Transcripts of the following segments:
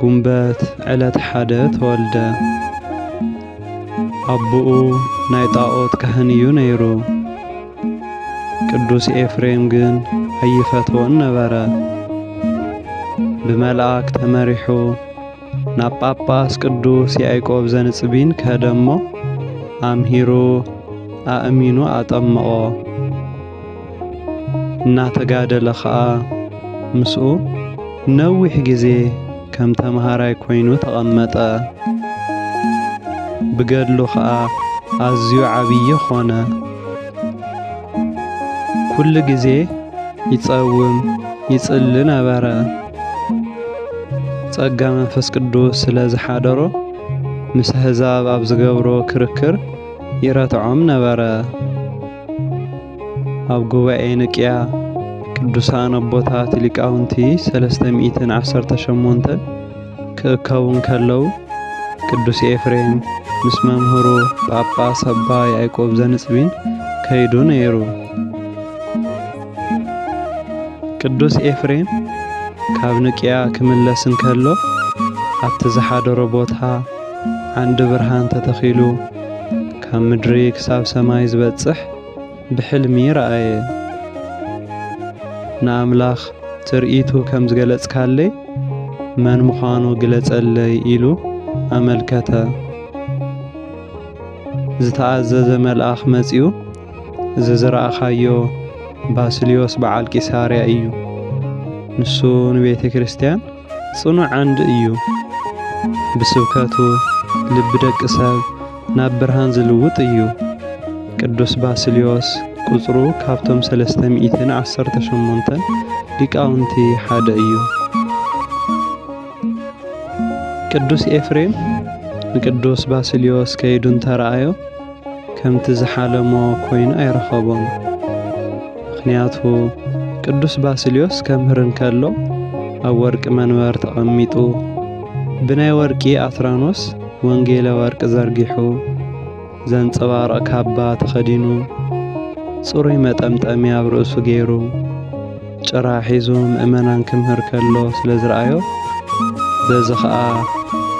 ጉንበት ዕለት ሓደ ተወልደ። ኣቦኡ ናይ ጣዖት ካህን እዩ ነይሩ። ቅዱስ ኤፍሬም ግን ኣይፈትዎን ነበረ። ብመልኣክ ተመሪሑ ናብ ጳጳስ ቅዱስ ያዕቆብ ዘንጽቢን ከደ እሞ ኣምሂሩ ኣእሚኑ ኣጠመቖ። እናተጋደለ ኸኣ ምስኡ ነዊሕ ግዜ ከም ተምሃራይ ኮይኑ ተቐመጠ። ብገድሉ ኸኣ ኣዝዩ ዓብዪ ኾነ። ኩሉ ግዜ ይጸውም ይጽሊ ነበረ። ጸጋ መንፈስ ቅዱስ ስለ ዝሓደሮ ምስ ኣህዛብ ኣብ ዝገብሮ ክርክር ይረትዖም ነበረ። ኣብ ጉባኤ ንቅያ ቅዱሳን ኣቦታት ሊቃውንቲ ሰለስተ ሚእትን ዓሰርተ ሸሞንተን ክእከቡ እንከለዉ ቅዱስ ኤፍሬም ምስ መምህሩ ጳጳስ ኣባ ያዕቆብ ዘንጽቢን ከይዱ ነይሩ። ቅዱስ ኤፍሬም ካብ ንቅያ ክምለስ እንከሎ ኣብቲ ዝሓደሮ ቦታ ዓንዲ ብርሃን ተተኺሉ ካብ ምድሪ ክሳብ ሰማይ ዝበጽሕ ብሕልሚ ረኣየ። ንኣምላኽ ትርኢቱ ከም ዝገለጽካለይ መን ምዃኑ ግለጸለይ ኢሉ ኣመልከተ። ዝተኣዘዘ መልኣኽ መጺኡ እዚ ዝረኣኻዮ ባስልዮስ በዓል ቂሳርያ እዩ ንሱ ንቤተ ክርስቲያን ጽኑዕ ዓንዲ እዩ። ብስብከቱ ልቢ ደቂ ሰብ ናብ ብርሃን ዝልውጥ እዩ። ቅዱስ ባስልዮስ ቁጽሩ ካብቶም ሰለስተ ሚእትን ዓሰርተ ሸሞንተን ሊቃውንቲ ሓደ እዩ። ቅዱስ ኤፍሬም ንቅዱስ ባስልዮስ ከይዱ እንተረኣዮ ከምቲ ዝሓለሞ ኮይኑ ኣይረኸቦን። ምክንያቱ ቅዱስ ባስልዮስ ከምህር እንከሎ ኣብ ወርቂ መንበር ተቐሚጡ ብናይ ወርቂ ኣትራኖስ ወንጌለ ወርቂ ዘርጊሑ ዘንጸባርቕ ካባ ተኸዲኑ ጽሩይ መጠምጠሚ ኣብ ርእሱ ገይሩ ጭራ ሒዙ ምእመናን ክምህር ከሎ ስለ ዝረኣዮ፣ በዚ ኸኣ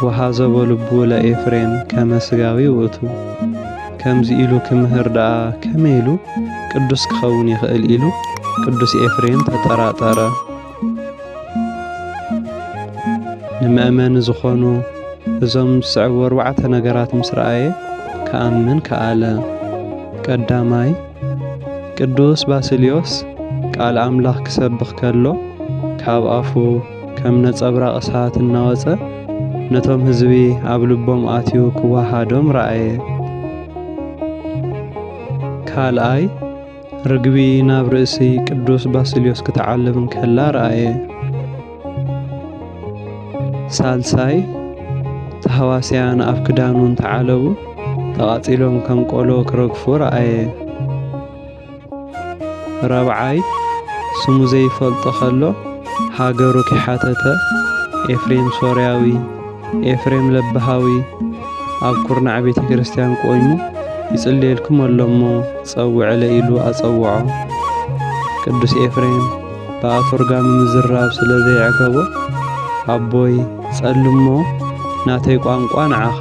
ወሃዘቦ ልቡ ለኤፍሬም ከመ ሥጋዊ ውእቱ፣ ከምዚ ኢሉ ክምህር ደኣ ከመይ ኢሉ ቅዱስ ክኸውን ይኽእል ኢሉ ቅዱስ ኤፍሬም ተጠራጠረ። ንመእመኒ ዝኾኑ እዞም ዝስዕቡ ኣርባዕተ ነገራት ምስ ረኣየ ክኣምን ከኣለ። ቀዳማይ ቅዱስ ባስልዮስ ቃል ኣምላኽ ክሰብኽ ከሎ ካብ ኣፉ ከም ነጸብራቕ እሳት እናወጸ ነቶም ህዝቢ ኣብ ልቦም ኣትዩ ክወሃዶም ረኣየ። ካልኣይ ርግቢ ናብ ርእሲ ቅዱስ ባስልዮስ ክትዓልብ እንከላ ረኣየ። ሳልሳይ፣ ታህዋስያን ኣብ ክዳኑ እንተዓለቡ ተቓጺሎም ከም ቆሎ ክረግፉ ረኣየ። ራብዓይ፣ ስሙ ዘይፈልጦ ከሎ ሃገሩ ኪሓተተ ኤፍሬም ሶርያዊ፣ ኤፍሬም ለብሃዊ ኣብ ኩርናዕ ቤተ ክርስቲያን ቆይሙ ይጽልየልኩም ኣሎ እሞ ጸውዕለ ኢሉ ኣጸውዖ። ቅዱስ ኤፍሬም ብኣቶርጋሚ ምዝራብ ስለ ዘየዕገቦ ኣቦይ ጸልሞ ናተይ ቋንቋ ንዓኻ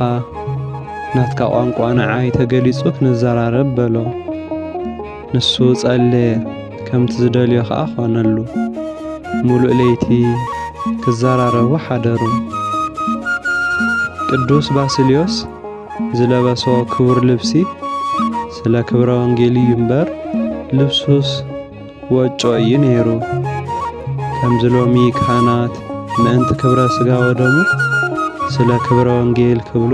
ናትካ ቋንቋ ንዓይ ተገሊጹ ክንዘራረብ በሎ። ንሱ ጸለየ ከምቲ ዝደልዮ ከኣ ኾነሉ። ምሉእ ለይቲ ክዘራረቡ ሓደሩ። ቅዱስ ባስልዮስ ዝለበሶ ክቡር ልብሲ ስለ ክብረ ወንጌል እዩ እምበር ልብሱስ ወጮ እዩ ነይሩ። ከምዚ ሎሚ ካህናት ምእንቲ ክብረ ስጋ ወደሙ ስለ ክብረ ወንጌል ክብሉ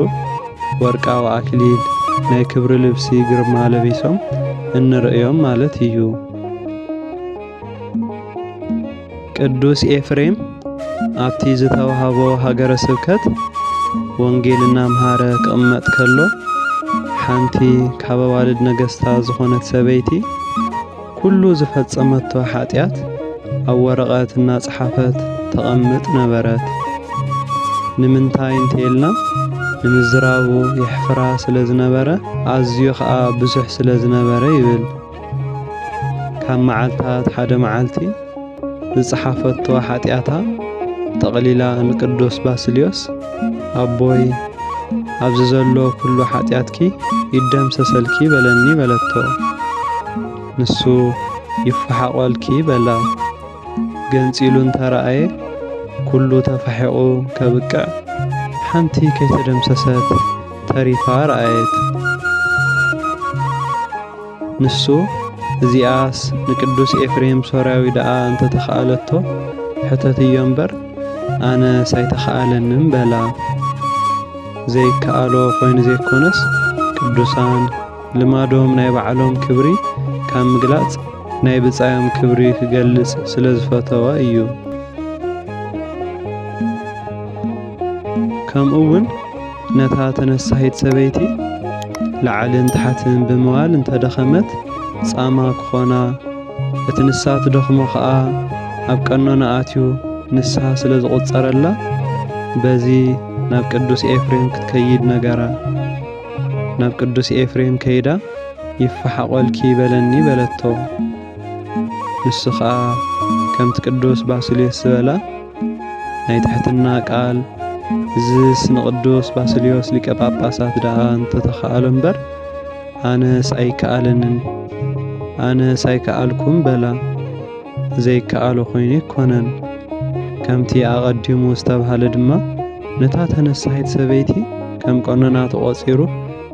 ወርቃዊ ኣክሊል ናይ ክብሪ ልብሲ ግርማ ለቢሶም እንርእዮም ማለት እዩ። ቅዱስ ኤፍሬም ኣብቲ ዝተዋህቦ ሃገረ ስብከት ወንጌል እናምሃረ ክቕመጥ ከሎ ሓንቲ ካብ ኣዋልድ ነገስታ ዝኾነት ሰበይቲ ኩሉ ዝፈጸመቶ ሓጢኣት ኣብ ወረቐት እናጸሓፈት ተቐምጥ ነበረት። ንምንታይ እንተይልና ንምዝራቡ የሕፍራ ስለ ዝነበረ ኣዝዩ ከኣ ብዙሕ ስለ ዝነበረ ይብል። ካብ መዓልታት ሓደ መዓልቲ፣ ዝጸሓፈቶ ሓጢኣታ ጠቕሊላ ንቅዱስ ባስልዮስ ኣቦይ ኣብዚ ዘሎ ኩሉ ሓጢኣትኪ ይደምሰሰልኪ በለኒ በለቶ። ንሱ ይፈሓቖልኪ በላ። ገንጺሉ እንተረኣየ ኩሉ ተፋሒቑ ከብቅዕ ሓንቲ ከይተደምሰሰት ተሪፋ ረኣየት። ንሱ እዚኣስ ንቅዱስ ኤፍሬም ሶርያዊ ደኣ እንተ ተኸኣለቶ ሕተትዮ እምበር ኣነስ ኣይተኸኣለንን በላ። ዘይከኣሎ ኮይኑ ዘይኮነስ ቅዱሳን ልማዶም ናይ ባዕሎም ክብሪ ካብ ምግላጽ ናይ ብጻዮም ክብሪ ክገልጽ ስለ ዝፈተወ እዩ። ከምኡ እውን ነታ ተነሳሂት ሰበይቲ ላዕልን ታሕትን ብምባል እንተ ደኸመት ጻማ ክኾና፣ እቲ ንሳ ትደኽሞ ከኣ ኣብ ቀኖና ኣትዩ ንስሃ ስለ ዝቑጸረላ በዚ ናብ ቅዱስ ኤፍሬም ክትከይድ ነገራ። ናብ ቅዱስ ኤፍሬም ከይዳ ይፈሓቖልኪ በለኒ በለቶ። ንሱ ከኣ ከምቲ ቅዱስ ባስልዮስ ዝበላ ናይ ትሕትና ቃል እዝስ ንቅዱስ ባስልዮስ ሊቀ ጳጳሳት ደኣ እንተተኸኣሎ እምበር ኣነስ ኣይከኣለንን ኣነስ ኣይከኣልኩም በላ ዘይከኣሎ ኮይኑ ኣይኮነን ከምቲ ኣቐዲሙ ዝተብሃለ ድማ ነታ ተነሳሒት ሰበይቲ ከም ቀኖና ተቖጺሩ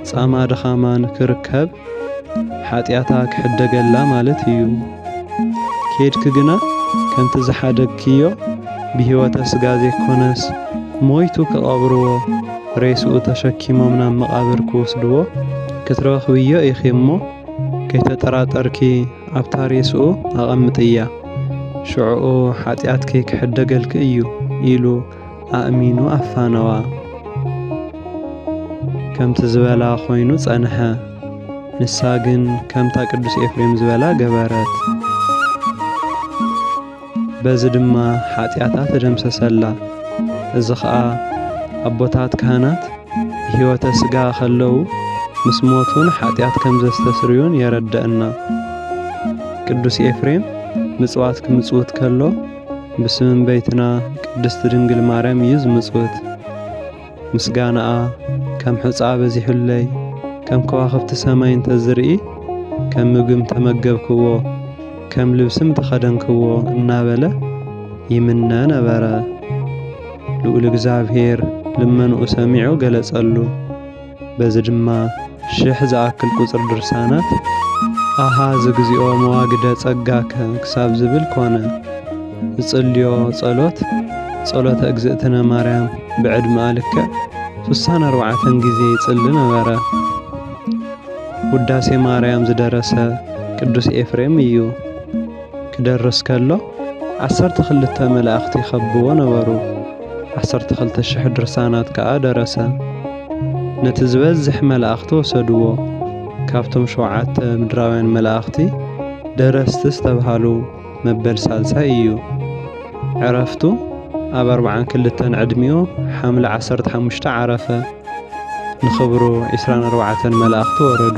ጻማ ድኻማን ክርከብ ሓጢኣታ ክሕደገላ ማለት እዩ። ኬድኪ ግና ከምቲ ዝሓደግክዮ ብህይወተ ስጋ ዘይኮነስ ሞይቱ ክቐብርዎ ሬስኡ ተሸኪሞም ናብ መቓብር ክወስድዎ ክትረኽብዮ ኢኺ እሞ ከይተጠራጠርኪ ኣብታ ሬስኡ ኣቐምጥያ ሽዕኡ ሓጢኣትኪ ክሕደገልኪ እዩ ኢሉ ኣእሚኑ ኣፋነዋ። ከምቲ ዝበላ ኮይኑ ጸንሐ። ንሳ ግን ከምታ ቅዱስ ኤፍሬም ዝበላ ገበረት። በዚ ድማ ሓጢኣታ ተደምሰሰላ። እዚ ኸኣ ኣቦታት ካህናት ብሕይወተ ሥጋ ኸለዉ ምስ ሞቱን ሓጢኣት ከም ዘስተስርዩን የረደእና። ቅዱስ ኤፍሬም ምጽዋት ክምጽውት ከሎ ብስም እምበይትና ቅድስቲ ድንግል ማርያም እዩ ዝምጽውት ምስጋናኣ ከም ሕፃ በዚሑለይ ከም ከዋኽብቲ ሰማይ እንተ ዝርኢ ከም ምግም ተመገብክዎ ከም ልብስም ተኸደንክዎ እናበለ ይምነ ነበረ። ልዑል እግዚኣብሔር ልመንኡ ሰሚዑ ገለጸሉ። በዚ ድማ ሽሕ ዝኣክል ቁጽሪ ድርሳናት ኣሃ ዝግዚኦ መዋግደ ጸጋከ ክሳብ ዝብል ኮነ። ዝጽልዮ ጸሎት ጸሎተ እግዝእትነ ማርያም ብዕድመኣ ልክዕ ሱሳን ኣርባዕተን ግዜ ይጽሊ ነበረ። ውዳሴ ማርያም ዝደረሰ ቅዱስ ኤፍሬም እዩ። ክደርስ ከሎ ዓሰርተ ክልተ መላእኽቲ ይኸብዎ ነበሩ። ዓሰርተ ክልተ ሽሕ ድርሳናት ከኣ ደረሰ። ነቲ ዝበዝሕ መላእኽቲ ወሰድዎ። ካብቶም ሸውዓተ ምድራውያን መላእኽቲ ደረስቲ ዝተብሃሉ መበል ሳልሳይ እዩ። ዕረፍቱ ኣብ ኣርብዓን ክልተን ዕድሚኡ ሓምለ ዓሰርተ ሓሙሽተ ዓረፈ። ንኽብሩ ዒስራን ኣርባዕተን መላእኽቲ ወረዱ።